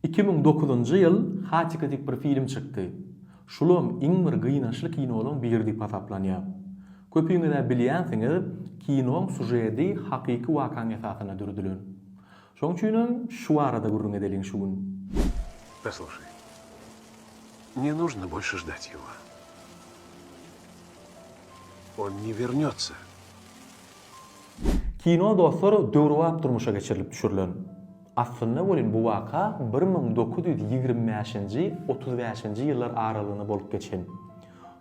Iki müň dokuzynjy ýyl Hatchika diýip bir film çykdy. Şulam iň bir gynaçly kinolaň biri diýip hasaplanýar. Köpüňiz-ä bilýänsiňiz, kinoň sujedi hakyky wakaň esasynda düredilen. Şoň üçinem şu barada gürrüň edeliň şu gün. Posluşaý. Ne nuşno bolşe ždat ýego. On ne wernýotsa. Kino dostlar döwrebap durmuşa geçirilip düşürilen. Aslynda welin bu waka bir müň dokuz ýüz ýigrimi bäşinji, otuz bäşinji ýyllar aralygynda bolup geçen.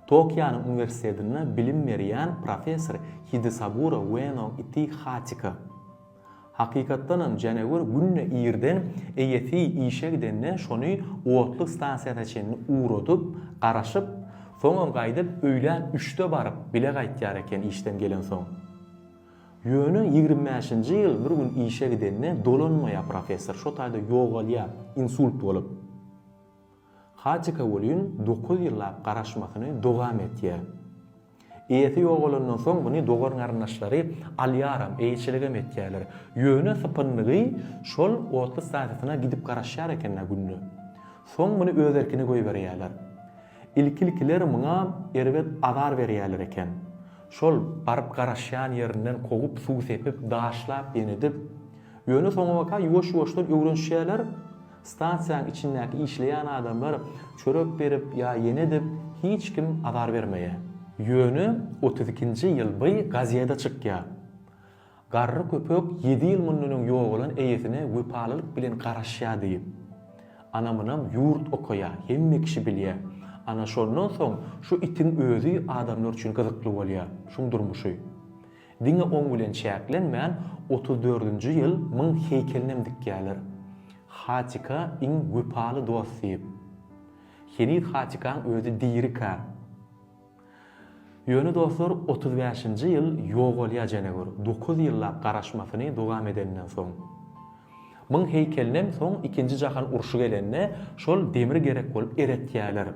Tokionyň uniwersitetinde bilim berýän professor Hidesagura Ueno Iti Hatika. Hakykatdanam Jänewür günde irden eýesi işe gidende şony otlyk stansiýasyna çenli ugradyp, garaşyp, soňam gaýdyp öýlän üçde baryp, bile gaýtýar eken işden gelensoň. Ýöne ýigrimi bäşinji ýyl bir gün işe gidende dolanmaýar professor, şo taýda ýogalýar, insult bolup. Hatika welin dokuz ýyllap garaşmasyny dowam etýär. Eýesi ýogalandan soň muny dogan-garyndaşlary alýaram, eýeçiligem etýärler. Ýöne sypyndygy şol otly stasiýasyna gidip garaşýar eken-ä günde. Soň muny öz erkine goýberýärler. Ilki-ilkiler muňa erbet azar berýärler eken. Şol baryp garaşýan ýerinden kowup, suw sepip, daşlap, ýenedip. Ýöne soňabaka ýuwaş-ýuwaşdan öwrenişýärler. Stansiýaň içindäki işleýän adamlar çörek berip ýa ýene edip hiç kim azar bermeýä. Ýöne otuz ikinji ýyl by gazeda çykýa. Garry köpek ýedi ýyl mundan öň ýogalan eýesine wepalylyk bilen garaşýa diýip. Anamynam ýurt okaýa, hemme kişi bilýä. Ana şondan soň şu itiň özi adamlar üçin gyzykly bolýa. Şuň durmuşy. Diňe oň bilen çäklenmän, otuz dördünji ýyl Myň heýkelinem dikýärler. Hatika iň wepaly dost diýip. Heniz Hatikaň özi dirikä. Ýöne dostlar, otuz bäşinji ýyl ýogalýar Jenegür, dokuz ýyllap garaşmasyny dowam edenden soň. Myň heýkelinem soň ikinji jahan urşy gelende, şol demir gerek bolup eretýärler.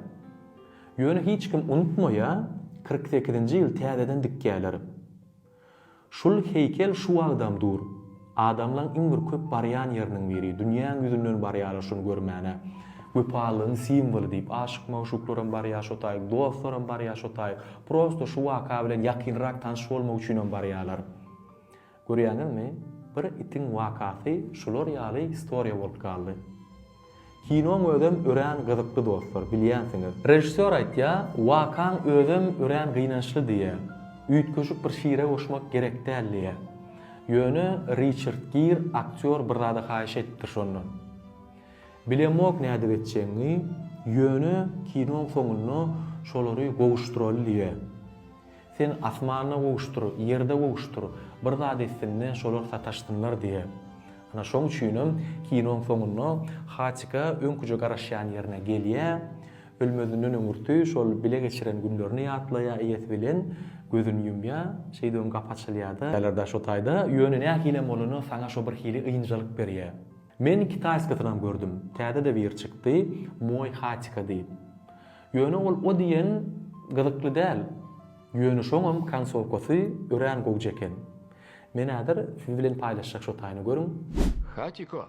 Ýöne hiç kim unutmaýa, kyrk sekizinji ýyl täzeden dikýäler. Şul heýkel şu wagtam dur. Adamlaň iň bir köp barýan ýeriniň biri. Dünýäň ýüzünden barýarlar şuny görmäne. Wepalylygyň simwoly diýip, aşyk-magşuklaram barýa şo taýy, dostlaram barýa şo taýy. Prosto şu waka bilen ýakynrak tanyş bolmak üçinem barýalar. Görýäňizmi, bir itiň wakasy şular ýaly istoriýa bolup galdy. Kinoň özem örän gyzykly dostlar, bilýänsiňiz. Režissýor aýtýar, wakaň özem örän gynançly diýýär. Üýtgeşik bir şire goşmak gerek däl diýýär. Ýöne Riçard Gir aktýor bir zada haýyş edipdir şondan. Bilemok nädip etjegiňi, ýöne kinoň soňunda şolary gowuşdyraly diýýär. Sen asmanda gowuşdyr, ýerde gowuşdyr, bir zat etsin-de, şolar sataşsynlar diýe. Ana, şoň üçinem kinoň soňunda Haçika öňküje garaşýan ýerine gelýä, ölmezinden öňürti şol bile geçiren günlerini ýatlaýa, eýesi bilen gözüni ýumýa, şeýdip hem gapy açylýa-da. Bälerdaş o taýda, ýöne nähilem bolanda saňa şo birhili ynjalyk berýä. Men kitaýskysynam gördüm, täze-de biri çykdy, Moý Haçika diýip. Ýöne ol o diýen gyzykly däl. Ýöne şoňam konsowkasy örän gowja eken. Men häzir siz bilen paýlaşjak şo taýyny görüň. Hatiko!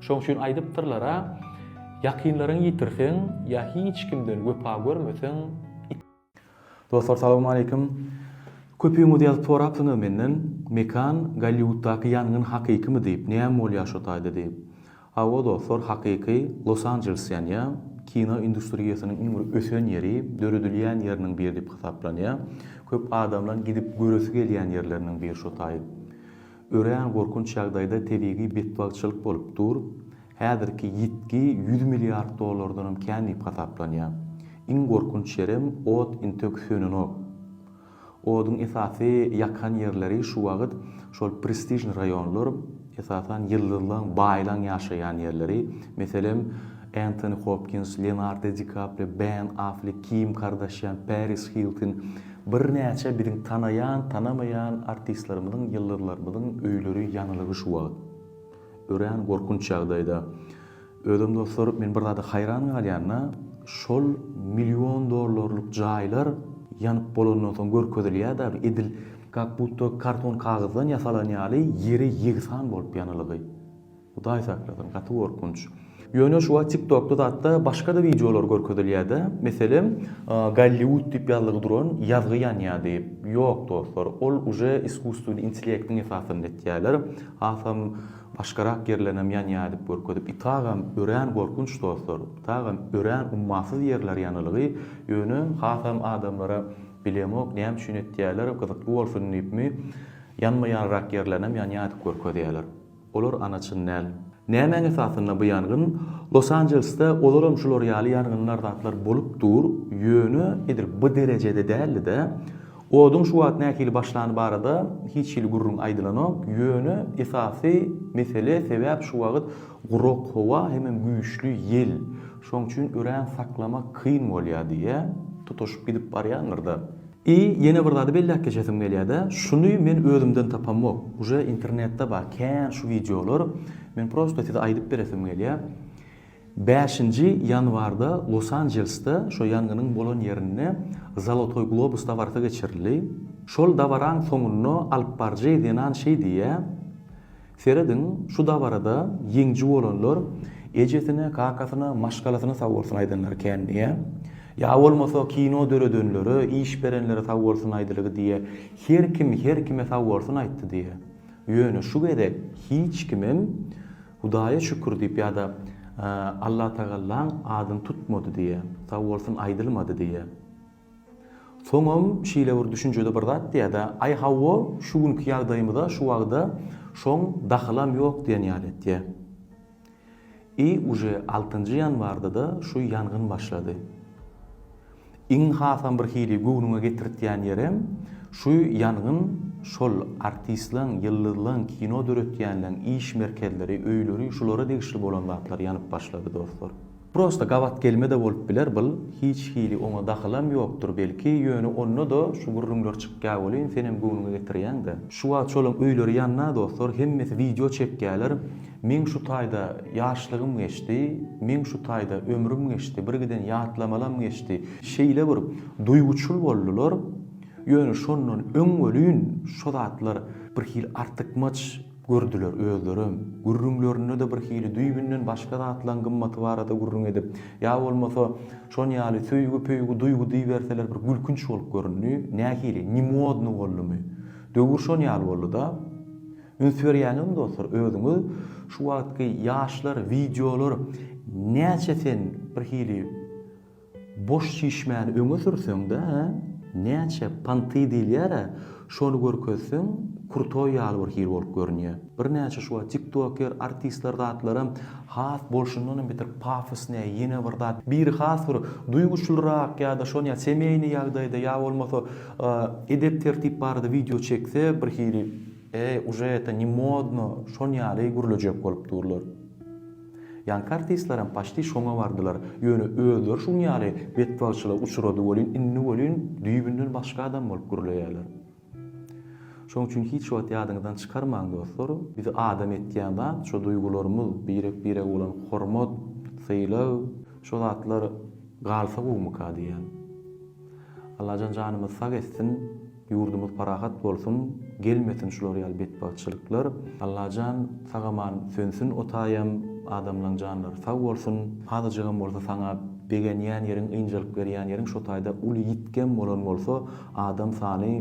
Şoň üçin aýdypdyrlar-a, Ýakynlaryňy ýitirseň ýa hiç kimden wepa görmeseň, Dostlar salawmaleýkim. Köpüňiz ýazyp sorapsyňyz menden, Mekan, Golliwuddaky ýangyn hakykymy diýip, näme bolýar şo taýda diýip. Hawa dostlar, hakyky, Los Anjeles ýanýar. Kino industriýasynyň iň bir ösen ýeri, döredilýän ýeriniň biri diýip hasaplanýar. Köp adamlaryň gidip göresi gelýän ýerleriniň biri şo taý. Örän gorkunç ýagdaýda tebigy betbagtçylyk bolup dur. Häzirki ýitgi ýüz milliard dollardanam kän diýip hasaplanýar. Iň gorkunç ýerem ot intek sönenok. Oduň esasy ýakan ýerleri şu wagyt şol prestižnyý raýonlar, esasan ýyldyzlaň, baýlaň ýaşaýan ýerleri, meselem, Entoni Hopkins, Leonardo Di Kaprio, Ben Aflek, Kim Kardashian, Paris Hiltin, Birnäçe biziň tanaýan, tanamaýan artistlerimiziň, ýyldyzlarymyzyň öýleri ýanylygy şu wagt. Örän gorkunç ýagdaýda. Özem dostlar, men bir zada haýran galýan-da, şol million dollarlyk jaýlar ýanyp bolandan soň görkezilýär däl, edil kak-budda karton kagyzdan ýasalan ýaly ýere ýegsan bolup ýanylygy. Hudaý saklasyn gaty gorkunç. Ýöne şu wagt tiktokda zatda başgada wideolar görkezilýädä, meselem Golliwud diýip ýazlygy duran ýazgy ýanýady. Ýok dostlar, ol uje iskusstweniý intlektiň esasynda etýäler. Hasam başgarak ýerlerinem ýanýa diýip görkezip itagam örän gorkunç dostlar. Itagam örän ummasyz ýerler ýanylgy, ýöne hasam adamlara bilemok näme üçin etýäler, gyzykly bolsun diýipmi, ýanmaýanrak ýerlerinem ýanýa diýip görkezýäler. Olar ana çyn däl. Nämäň esasynda bu ýangyn? Los Anjelesde ozalam şular ýaly ýangynlar zatlar bolup dur, ýöne edil bu derejede däldi-de. Oduň şu wagt nähili başlany barada hiç hili gürrüň aýdylanok, ýöne esasy mesele sebäp şu wagt gurak howa hemem güýçli ýel. Şoň üçin örän saklamak kyn bolýar diýýär. Tutaşyp gidip barýandyr-da. I ýene bir zady belläp geçesim gelýärde, şuny men özümden tapamok, uje internetde bar kän şu wideolar, men prosto size aýdyp beresim gelýär. Bäşinji ýanwarda Los-Anjelsde şo ýangynyň bolan ýerinde Zolotoý globus dabarasy geçirildi. Şol dabaraň soňunda alypbaryjy zenan şeý diýýär, Serediň, şu dabarada ýeňji bolanlar ejesine, kakasyna, maşgalasyna sag bolsun aýdanlary kän diýä. Ýa bolmasa kino döredenlere, iş berenlere sag bolsun aýdylygy diýä. Her kim her kime sag bolsun aýtdy diýä. Ýöne şu gezek hiç kimem Hudaýa şükür diýip ýa-da Allatagallan adyny tutmady diýä. Sag bolsun aýdylmady diýä. Soňam şeýle bir düşünjede bir zat diýýär-de, Aý hawa, şu günki ýagdaýymyza şu wagda şoň dahylam ýok diýen ýaly etýär. I uje altynjy ýanwarda-da şu ýangyn başlady. Iň hasam bir hili göwnüňe getirtýän ýerem, şu ýangyn şol artistleň, ýyldyzlaň, kino döretýänleň iş merkezleri, öýleri, şulara degişli bolan zatlar ýanyp başlady, dostlar. Prosta gabat gelme-de bolup biler bul, hiç hili oňa dahylam ýokdur belki, ýöne onda-da şu gürrüňler çykýa welin senem göwnüňe getirýäň-dä. Şu wagt şolaň öýleri ýanna dostlar, hemmesi wideo çekýäler, meň şu taýda ýaşlygym geçdi, meň şu taýda ömrüm geçdi, birgiden ýatlamalam geçdi, şeýle bir duýguçyl boldular, ýöne şondan öň welin şu zatlar birhili artykmaç, Gördiler, özlerem, gürrüňlerinde-de birhili düýbünden başga zatlaň gymmaty barada gürrüň edip, ýa bolmasa, şon ýaly söýgi-pöýgi, duýgy diýiberseler bir gülkünç bolup göründi, nähili, ne modny boldumy? Döwür şon ýaly boldy-da. Üns berýäňizmi dostlar, özüňiz şu wagtky ýaşlar, wideolar näçe sen birhili, Boş çişmäni öňe sürseňdä, hä? Näçe panty diýilýär-ä, şony görkezseň, krutoý ýaly bir hil bolup görünýä. Birnäçe şuwagt tiktoker, artistler zatlaram has bolşundanam beter pafosnyý, ýene bir zat, biri has bir duýguçlyrak ýa-da şony ýa semýeýnyý ýagdaýda, ýa bolmasa edep-tertip barada wideo çekse, bir hili, Eý, uje eta ne modno, şon ýaly gürlejek bolup durlar. Ýanky artistlerem paçti şoňa bardylar, ýöne özleri şuň ýaly betbagtçylyga uçrady welin, indi welin düýbünden başga adam bolup gürleýärler. Şoň üçin hiç wagt ýadyňyzdan çykarmaň dostlar, bizi adam etýän zat şo duýgularymyz, birek-birege bolan hormat, sylag, şo zatlar galsa gowumyka diýýän. Allajan janymyzy sag etsin. Ýurdumuz parahat bolsun gelmesin şular ýaly betbagtçylyklar Allajan sagaman sönsün otaýam adamlaň janlary sag bolsun azajygam bolsa saňa begenýän ýeriň ynjalyk berýän ýeriň şotaýda uly ýitgem bolan bolsa adam sany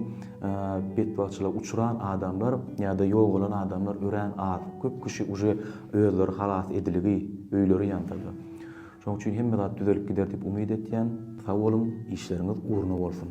betbagtçyla uçran adamlar ýada ýogalan adamlar örän az köp kişi uje özleri halas ediligi öýleri ýansalar şoň üçin hemme zat düzelip gider diýip umyt etýän sag boluň işleriňiz ugruna bolsun.